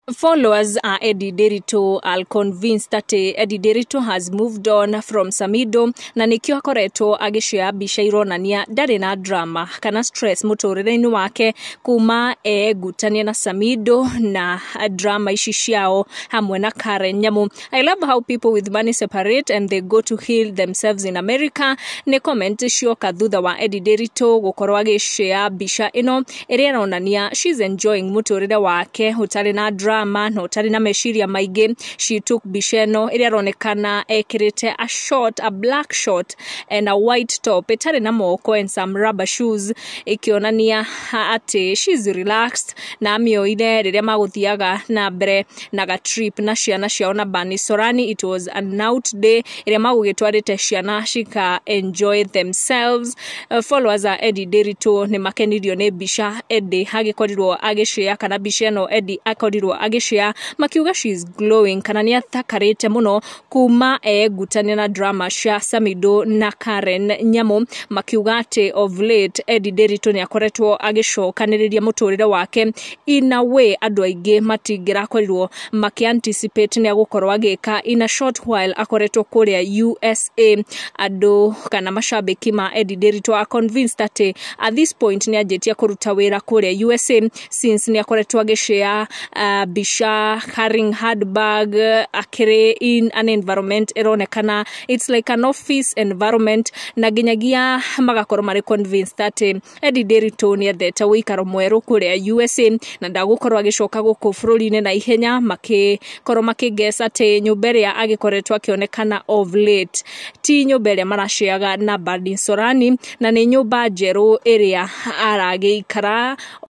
Followers are Eddie Derito are convinced that eh, Eddie Derito has moved on from Samido na nĩkĩo akoretwo agĩcioya mbica ironania ndarĩ na drama kana stress mũtũrĩre-inĩ wake kuma egutanie na Samido na drama ici ciao hamwe na Karen Nyamu I love how people with money separate and they go to heal themselves in America nĩ comment cioka thutha wa Eddie Nderitu gũkorwo agĩshare mbica ĩno ĩrĩa ĩronania she's enjoying mũtũrĩre wake ũtarĩ na drama na ũtarĩ na meciria maingĩ she took mbica ĩno ĩrĩa ĩronekana ekĩrĩte a short a black short and a white top ĩtarĩ na moko and some rubber shoes ĩkĩonania ha- atĩ she's relaxed na amĩoire rĩrĩa magũthiaga na mbere na gatrip na ciana ciao na bani sorani it was a out day ĩrĩa magũgĩtwarĩte ciana cika enjoy themselves uh, followers a Eddie Ndiritu nĩ makenirio nĩ mbica Eddie agĩkorirwo agĩcĩa kana mbica ĩno Eddie akorirwo agĩcĩa makiuga she is glowing kana nĩ athakarĩte mũno kuma eengutane na drama cia Samido na Karen Nyamu makiuga atĩ of late Eddie Nderitu nĩ akoretwo agĩcokanĩrĩria mũtũrĩre wake in a way andũ aingĩ matingĩrakorirwo makĩ anticipate nĩ agũkorwo agĩka in a short while akoretwo kũrĩa USA andũ kana macambĩki ma Eddie Nderitu are convinced atĩ at this point nĩ anjĩtie kũruta wĩra kũrĩa USA since nĩ akoretwo agĩshare uh, mbica carrying handbag uh, akĩrĩ in an environment ĩronekana it's like an office environment na nginyagia magakorwo marĩ convinced atĩ Eddie Ndiritu nĩ ethete ũikaro mwerũ kũrĩa USA na ndagũkorwo agĩcoka gũkũ bũrũri-inĩ na ihenya makĩkorwo makĩngesa atĩ nyũmba ĩrĩa agĩkoretwo akĩonekana of late ti nyũmba ĩrĩa maraceaga na Badin Sorani na nĩ nyũmba njerũ ĩrĩa aragĩikara